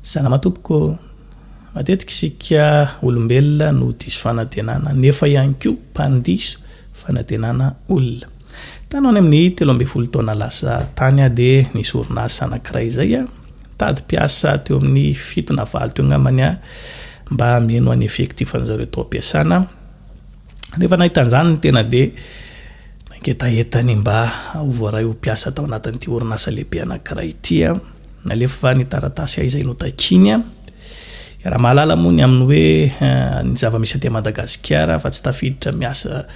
Salama tompoko, matetika isika olombelona no diso fanantenana nefa ihany koa mpandiso fanantenana olona. Tany any amin'ny telo ambin'ny folo taona lasa tany aho dia nisy orinasa anankiray izay aho nitady mpiasa teo amin'ny fito na valo teo angambany aho mba hameno an'ny effectif an'izareo tao am-piasana. Rehefa nahita an'izany ny tena dia nangetaheta ny mba ho voaray ho mpiasa tao anatin'ity orinasa lehibe anankiray ity. Nalefa ny taratasy izay notakiany. Raha mahalala moa ny amin'ny hoe eh, ny zava-misy aty Madagasikara fa tsy tafiditra miasa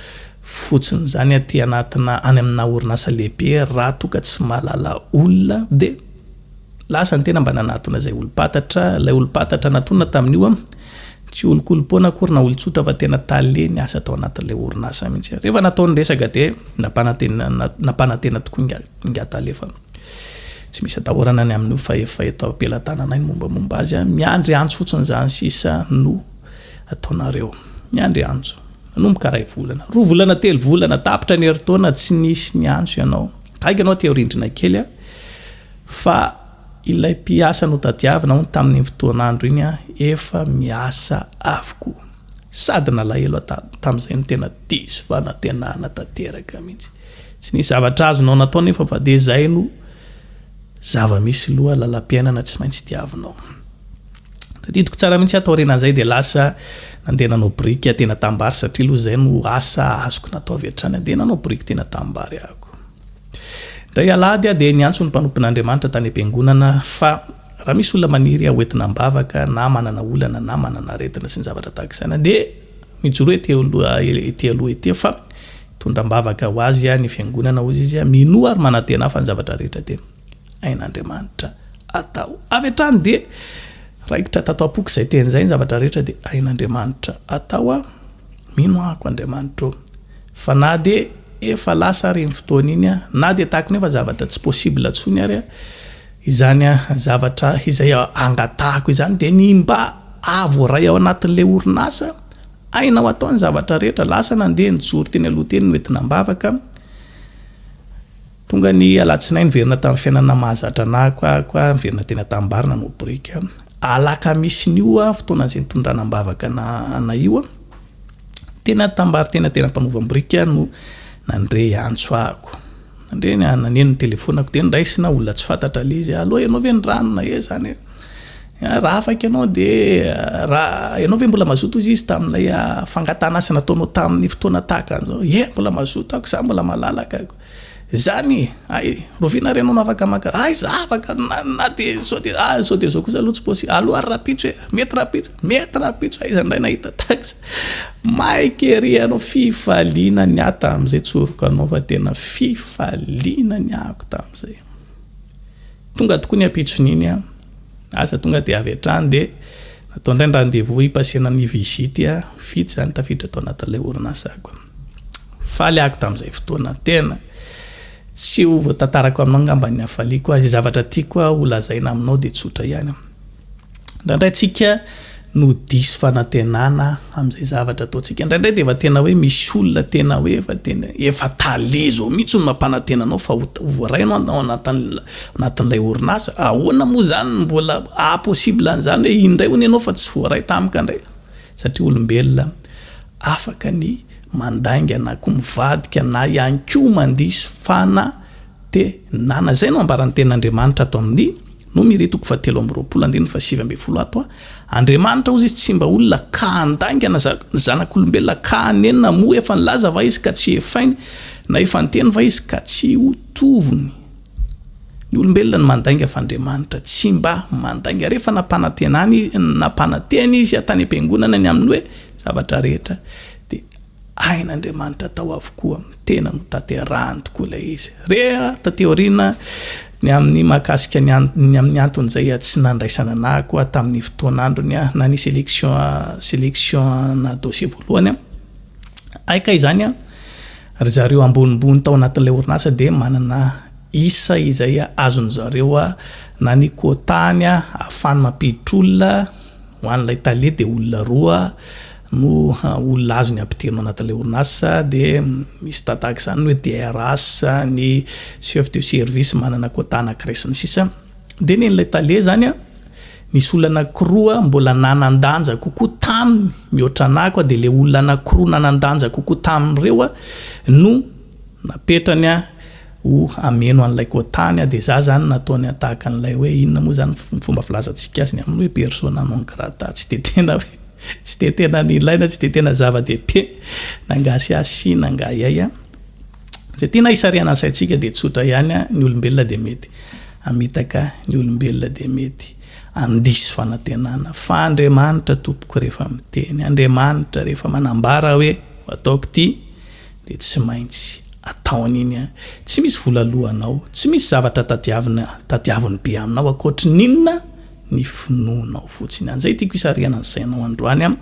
fotsiny izany aty anatina any amina orinasa lehibe raha toa ka tsy mahalala olona dia Lasa ny tena mba nanatona izay olom-pantatra, ilay olom-pantatra natonina tamin'io an, tsy olon-kolom-poana akory na olon-tsotra fa tena tale niasa tao anatin'ilay orinasa mihitsy. Rehefa natao ny resaka dia nampanantena nampanantena tokoa inga inga tale fa tsy misy atahorana ny amin'io fa efa eto am-pelatananay ny mombamomba azy an, miandry antso fotsiny izany sisa no ataonareo. Miandry antso. Nanomboka iray volana, roa volana, telo volana, tapitra ny herintaona tsy nisy niantso ianao. Gaigy anao teo rindrina kely a! Fa ilay mpiasa notadiavina hono tamin'iny fotoan'andro iny a, efa miasa avokoa. Sady nalahelo aho ta, tamin'izay no tena diso fanantenana tanteraka mihitsy. Tsy nisy zavatra azonao natao nefa fa dia izay no zava-misy loha lalam-piainana tsy maintsy diavinao. Tadidiko tsara mihitsy aho taorianan'izay dia lasa nandeha nanao biriky aho tena tambary satria aloha izay no asa azoko natao avy hatrany andeha nanao biriky tena tambary ahako. Indray alahady aho dia niantso ny mpanompon'Andriamanitra tany am-piangonana fa raha misy olona maniry hoentina am-bavaka na manana olana na manana aretina sy ny zavatra tahaka izany dia mijoroa ety aloha ety aloha ety fa hitondra am-bavaka ho azy ny fiangonana hoy izy minoa ary manantena ahy fa ny zavatra rehetra dia ain'Andriamanitra atao. Avy hatrany dia raikitra tato am-poko izay teny izay, ny zavatra rehetra dia ain'Andriamanitra atao aho, mino ahako Andriamanitra ô. Fa na dia efa lasa ary iny fotoana iny aho, na dia tahako ny efa zavatra tsy possible intsony ary aho, izany zavatra izay angatahako izany dia ny mba hahavoaray ao anatin'ilay orinasa ainao atao ny zavatra rehetra, lasa nandeha nijoro teny aloha teny no entina am-bavaka, Tonga ny alatsinainy niverina tamin'ny fiainana mahazatra nahiko ahiko aho niverina teny Antanibary nanao biriky. Alakamisin'io fotoana izay nitondrana am-bavaka anay io teny Antanibary teny an-tena-panaovam-biriky no nandre antso ahiko. Nandre naneno ny telefonako dia niraisina olona tsy fantatra ilay izy, allo ianao ve ny rano na iza izany e? Raha afaka ianao dia raha ianao ve mbola mazoto hoy izy tamin'ilay fangatahana asa nataonao tamin'ny fotoana tahaka an'izao, ie mbola mazoto aho koa za mbola malalaka. Zany ay rovina re nono afaka maka aiza afaka na de zao de ah zao de zao kosa aloha tsy possible alou ary rapitso e mety rapitso mety rapitso aiza indray nahita taxe maika ery anao fifaliana ny ahy tamzay tsoriko anao fa tena fifaliana ny ahako tamzay tonga tokoa ny apitson'iny an asa tonga de avy hatrany de natao indray ny rendez-vous hipasena ny visite vitsy zany tafiditra tao anatin'ilay orinasako Faly ako tamin'izay fotoana. Tena. Tsy ho voatantarako aminao angamba ny hafaliako. Izay zavatra tiako ho lazaina aminao dia tsotra ihany. Indraindray tsika no diso fanantenana amin'izay zavatra ataontsika. Indraindray dia efa tena hoe misy olona tena hoe efa tena efa tale zao mihitsy no mampanantena anao fa ho voaray ianao ao anatin'ilay orinasa. Ahoana moa izany no mbola ah possible an'izany hoe iny indray hono ianao fa tsy voaray tamiko indray. satria olombelona afaka ny mandainga na koa mivadika na ihany koa mandiso fana te nana. Izay no ambaran'ny Tenin'Andriamanitra ato amin'ny Nomiri toko fahatelo amby roapolo andininy fahasivy ambin'ny folo ato, Andriamanitra, hozy izy, tsy mba olona ka handaingana za ny zanak'olombelona ka hanenina, moa efa nilaza va izy ka tsy hefainy, na efa niteny va izy ka tsy ho tovony? Ny olombelona no mandainga fa Andriamanitra tsy mba mandainga. Rehefa nampanantenany nampanantena izy tany am-piangonana ny amin'ny hoe zavatra rehetra dia hain'Andriamanitra tao avokoa. Tena notanterahany tokoa ilay izy. Re taty aoriana ny amin'ny mahakasika ny ny amin'ny antony izay tsy nandraisana anah koa tamin'ny fotoan'androny aho nanisy election selection-na dossier voalohany aho. Hay kay izany an! Ry zareo ambonimbony tao anatin'ilay orinasa dia manana isa izay azon'ny zareo na ny quota-ny ahafahany mampiditra olona ho an'ilay tale dia olona roa no olona azony ampidirina anatin'ilay orinasa dia misy tahaka izany ny hoe DRH, ny chef de service manana quota anankiray sy ny sisa dia ny an'ilay tale izany Nisy olona anankiroa mbola nanan-danja kokoa taminy mihoatra anah koa dia ilay olona anankiroa nanan-danja kokoa tamin'ireo no napetrany ho hameno an'ilay kotany dia za zany nataony tahaka an'ilay hoe inona moa zany ny fomba filazantsika azy ny amin'ny hoe persona non grata tsy dia tena hoe tsy dia tena nilaina tsy dia tena zava-dehibe na angaha sy ahy sy na angaha iay Izay tiana hisarihana ny saintsika dia tsotra ihany, ny olombelona dia mety hamitaka, ny olombelona dia mety handiso fanantenana. Fa Andriamanitra tompoko rehefa miteny, Andriamanitra rehefa manambara hoe ataoko ity dia tsy maintsy ataony iny an! Tsy misy vola lohanao, tsy misy zavatra tadiavina, tadiaviny be aminao ankoatry ny inona? Ny finoanao fotsiny. An'izay tiako hisarihana ny sainao androany an!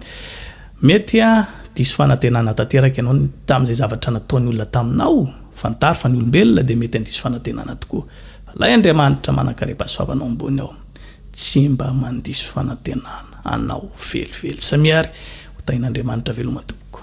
Mety ha diso fanantenana tanteraka ianao tamin' izay zavatra nataony olona taminao. Fantaro fa ny olombelona dia mety handiso fanantenana tokoa. Fa ilay Andriamanitra manankarem-pa sy fahavalony ambony ao, tsy mba mandiso fanantenana anao velively. Samia ary ho tahin' Andriamanitra veloma tompoko.